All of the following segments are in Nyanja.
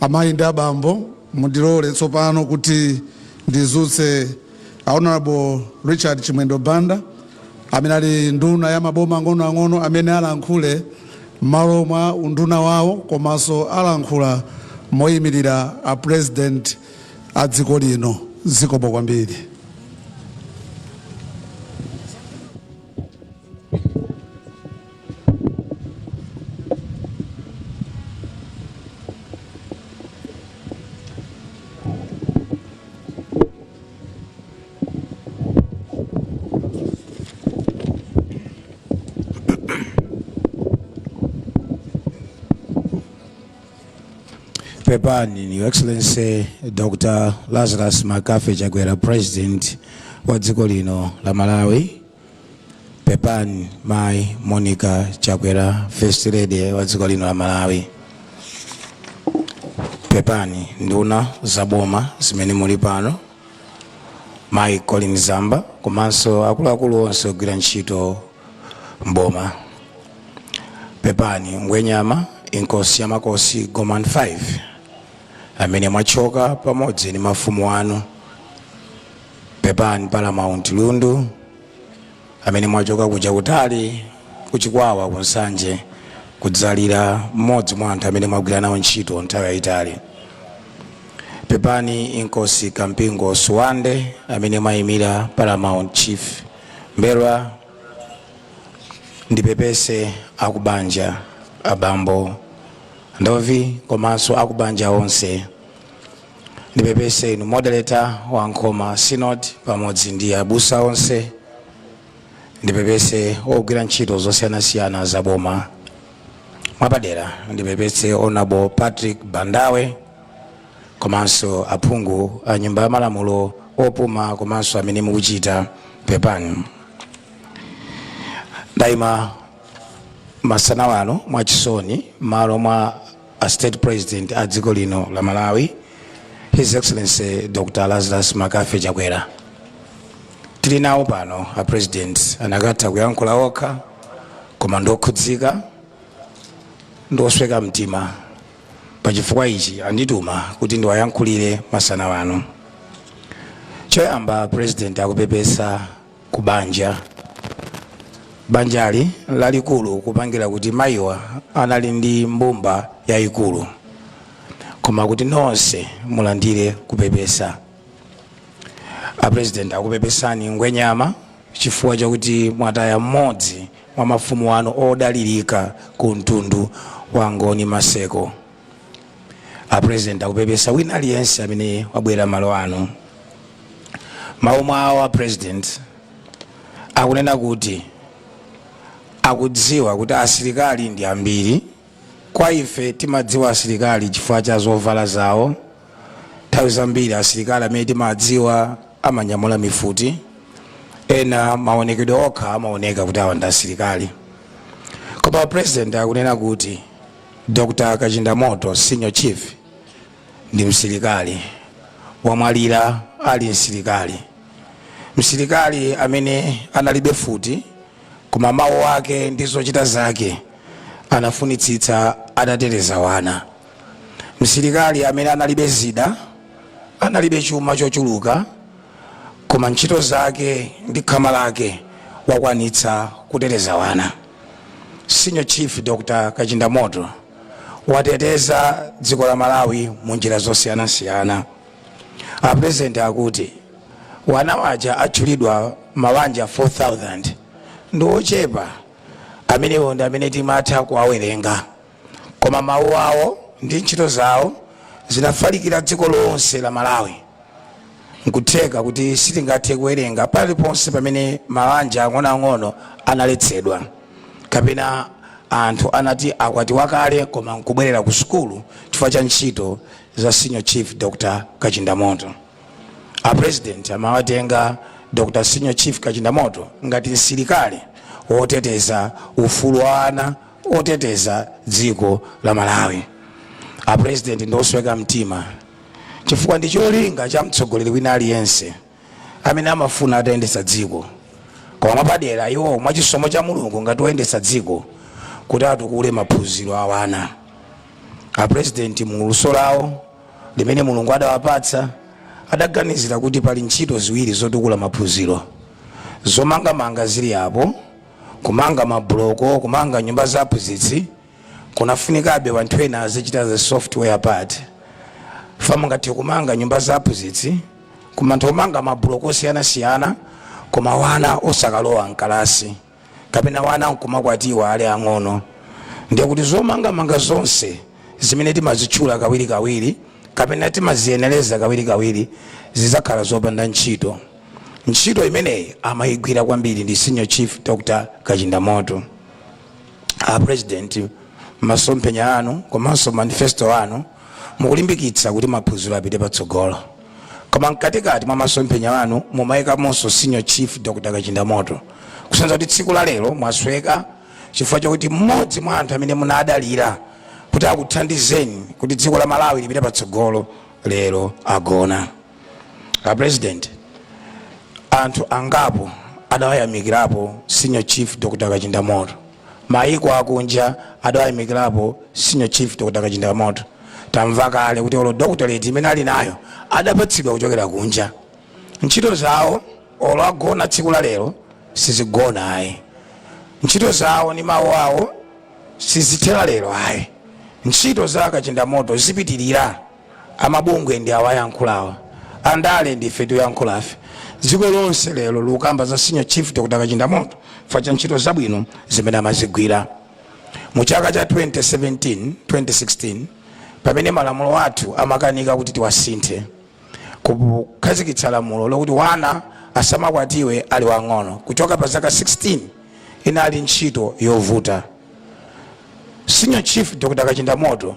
Amayi ndi abambo, mundilole tsopano kuti ndizutse Honorable Richard Chimwendo Banda, amene ali nduna ya maboma ang'onoang'ono amene alankhule m'malo mwa unduna wawo komanso alankhula moyimilira a President a dziko lino. Zikomo kwambiri. pepani your excellency dr lazarus mccarthy chakwera president wa dziko lino la malawi Pepani Mai Monica Chakwera, First Lady wa dziko lino la Malawi. Pepani nduna za boma zimene muli pano, Mai Colleen Zamba komanso akuluakulu onse ogwira ntchito mboma. Pepani Ngwenyama Inkosi ya Makosi Gomani 5 amene mwachoka pamodzi ndi mafumu anu pepani paramount lundu amene mwachoka kuja kutali kuchikwawa ku nsanje kudzalira mmodzi mwa anthu amene mwagwira nawo ntchito nthawi yayitali pepani inkosi kampingo sibande amene mwayimira paramount chief m'mbelwa ndipepese akubanja abambo ndovi komanso akubanja onse ndipepese inu moderator wa nkhoma synod pamodzi ndi abusa onse ndipepese ogwira ntchito zosiyanasiyana za boma mwapadera ndipepese honorable patrick bandawe komanso aphungu a nyumba ya malamulo opuma komanso amene mukuchita pepani ndayima masana ano mwachisoni malo mwa a state president a dziko lino la malawi his excellency dr lazarus mccarthy chakwera tili nawo pano a president akanatha kuyankhula okha koma ndokhudzika ndosweka mtima pachifukwa ichi andituma kuti ndiwayankhulire masana ano choyamba president akupepesa ku banja banjali lalikulu kupangira kuti mayiwa anali ndi mbumba yayikulu koma kuti nonse mulandire kupepesa apresident akupepesani ngwenyama chifukwa chakuti mwataya mmodzi mwa mafumu anu odalirika ku mtundu wa angoni maseko a president akupepesa wina aliyense amene wabwera mmalo ano mawu mwawo a president akunena kuti akudziwa kuti asilikali ndi ambiri kwa ife timadziwa asilikali chifukwa cha zovala zawo nthawi zambiri asilikali amene timadziwa amanyamula mifuti ena maonekedwe okha amaoneka kuti awa ndi asilikali koma a president akunena kuti Dr Kachindamoto Senior Chief ndi msilikali, wamwalira ali msilikali. Msilikali amene analibe futi koma mawu ake ndi zochita zake anafunitsitsa atatereza wana. Msilikali amene analibe zida, analibe chuma chochuluka koma ntchito zake ndi khama lake wakwanitsa kutereza wana. Senior Chief Dr. Kachindamoto wateteza dziko la Malawi mu njira zosiyanasiyana. A President akuti wana waja atchulidwa mmawanja 4000 ndi ochepa amenewo ndi amene timatha kuwawerenga. koma mawu awo ndi ntchito zawo zinafalikira dziko lonse la malawi nkutheka kuti sitingathe kuwerenga paliponse pamene mawanja ang'onoang'ono analetsedwa kapena anthu anati akwatiwa kale koma nkubwerera ku sukulu chifukwa cha ntchito za senior chief dr kachindamoto a president amawatenga dr senior chief kachindamoto ngati msilikali woteteza ufulu wa ana woteteza dziko la malawi a president ndi osweka mtima chifukwa ndi cholinga cha mtsogoleri wina aliyense amene amafuna atayendetsa dziko koma mwapadera iwo mwachisomo cha mulungu ngati oyendetsa dziko kuti atukule maphunziro a wana a president mu luso lawo limene mulungu adawapatsa adaganizira kuti pali ntchito ziwiri zotukula maphunziro zomangamanga zili apo Kumanga ma buloko, kumanga nyumba za aphunzitsi kunafunikabe wanthu ena azichita the software part chifukwa mungathe kumanga nyumba za aphunzitsi kumanga ma buloko osiyanasiyana koma wana osakalowa mkalasi kapena wana nkumakwatiwa ali ang'ono ndiye kuti zomangamanga zonse zimene timazitchula kawirikawiri kapena timaziyenereza kawirikawiri zidzakhala zopanda ntchito ntchito imeneyi amayigwira kwambiri ndi senior chief dr kachindamoto a president masomphenya anu komanso manifesto anu mukulimbikitsa kuti maphunziro apite patsogolo koma mkatikati mwa masomphenya anu mumayikamonso senior chief dr kachindamoto kusonyeza kuti tsiku la lero mwasweka chifukwa chakuti mmodzi mwa anthu amene munadalira kuti akuthandizeni kuti dziko la malawi lipite patsogolo lero agona a president anthu angapo adawayamikirapo senior chief dr kachinda moto maiko akunja adawayamikirapo senior chief dr kachinda moto tamva kale kuti olo doctorate imene ali nayo adapatsidwa kuchokera kunja ntchito zawo olo agona tsiku la lero sizigona ayi ntchito zawo ndi mawu awo sizithera lero ayi ntchito za kachinda moto zipitirira Amabungwe ndi awa ayankhulawa, andale ndi ife tikuyankhulafe. Dziko lonse lero likukamba za Senior Chief Dr Kachindamoto chifukwa cha ntchito zabwino zimene amazigwira. Mu chaka cha 2016 pamene malamulo athu amakanika kuti tiwasinthe kukhazikitsa lamulo lokuti mwana asamakwatiwe ali wang'ono kuchoka pa zaka 16 inali ntchito yovuta. Senior Chief Dr Kachindamoto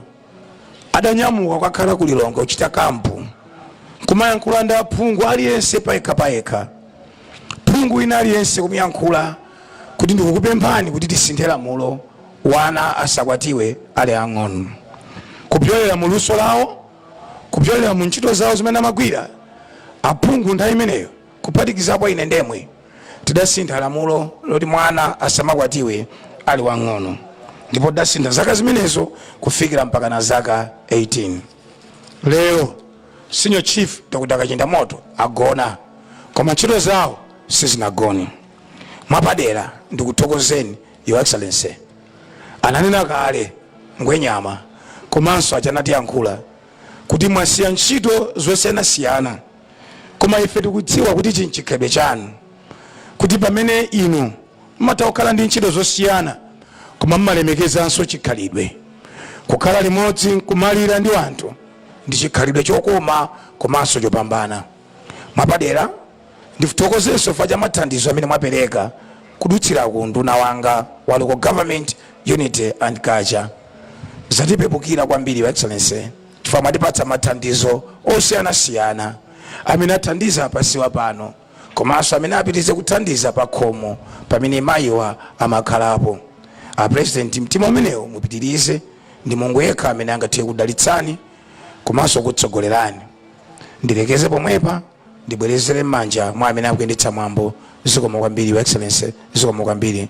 adanyamuka kukakhala ku lilongwe kuchita kampu kumayankhula ndi aphungu aliyense payekha payekha phungu wina aliyense kumayankhula kuti ndikukupemphani kuti tisinthe lamulo wana asakwatiwe ali ang'ono kupyolera mu luso lawo kupyolera mu ntchito zawo zimene amagwira aphungu nthawi imeneyo kuphatikizapo ine nemwe, tidasintha lamulo loti mwana asamakwatiwe ali wang'ono ndipo tidasintha zaka zimenezo kufikira mpakana zaka 18. Lero Senior Chief Dr. Kachindamoto agona koma ntchito zawo sizinagone. Mwapadera ndikuthokozeni Your Excellency. Ananena kale Ngwenyama komanso aja anatiyankhula kuti mwasiya ntchito zosiyanasiyana Koma ife tikudziwa kuti ichi nchikhalidwe chanu, kuti pamene inu mumatha kukhala ndi ntchito zosiyana, koma mumalemekezanso chikhalidwe. Kukhala limodzi nkumalira ndi anthu ndi chikhalidwe chokoma komanso chopambana. Mwapadera, ndithokozenso chifukwa cha mathandizo amene mwapereka kudutsira ku unduna wanga wa Local Government, Unity and Culture. Zatipepukira kwambiri, Your Excellency. chifukwa mwatipatsa mathandizo osiyanasiyana amene athandiza pasiwa pano komanso amene apitirize kuthandiza pakhomo pamene mayiwa amakhalapo a president mtima umenewo mupitirize ndi mulungu yekha amene angathe kudalitsani komanso kutsogolerani ndilekeze pomwepa ndibwerezere m'manja mwa amene akuyendetsa mwambo zikomo kwambiri your excellency zikomo kwambiri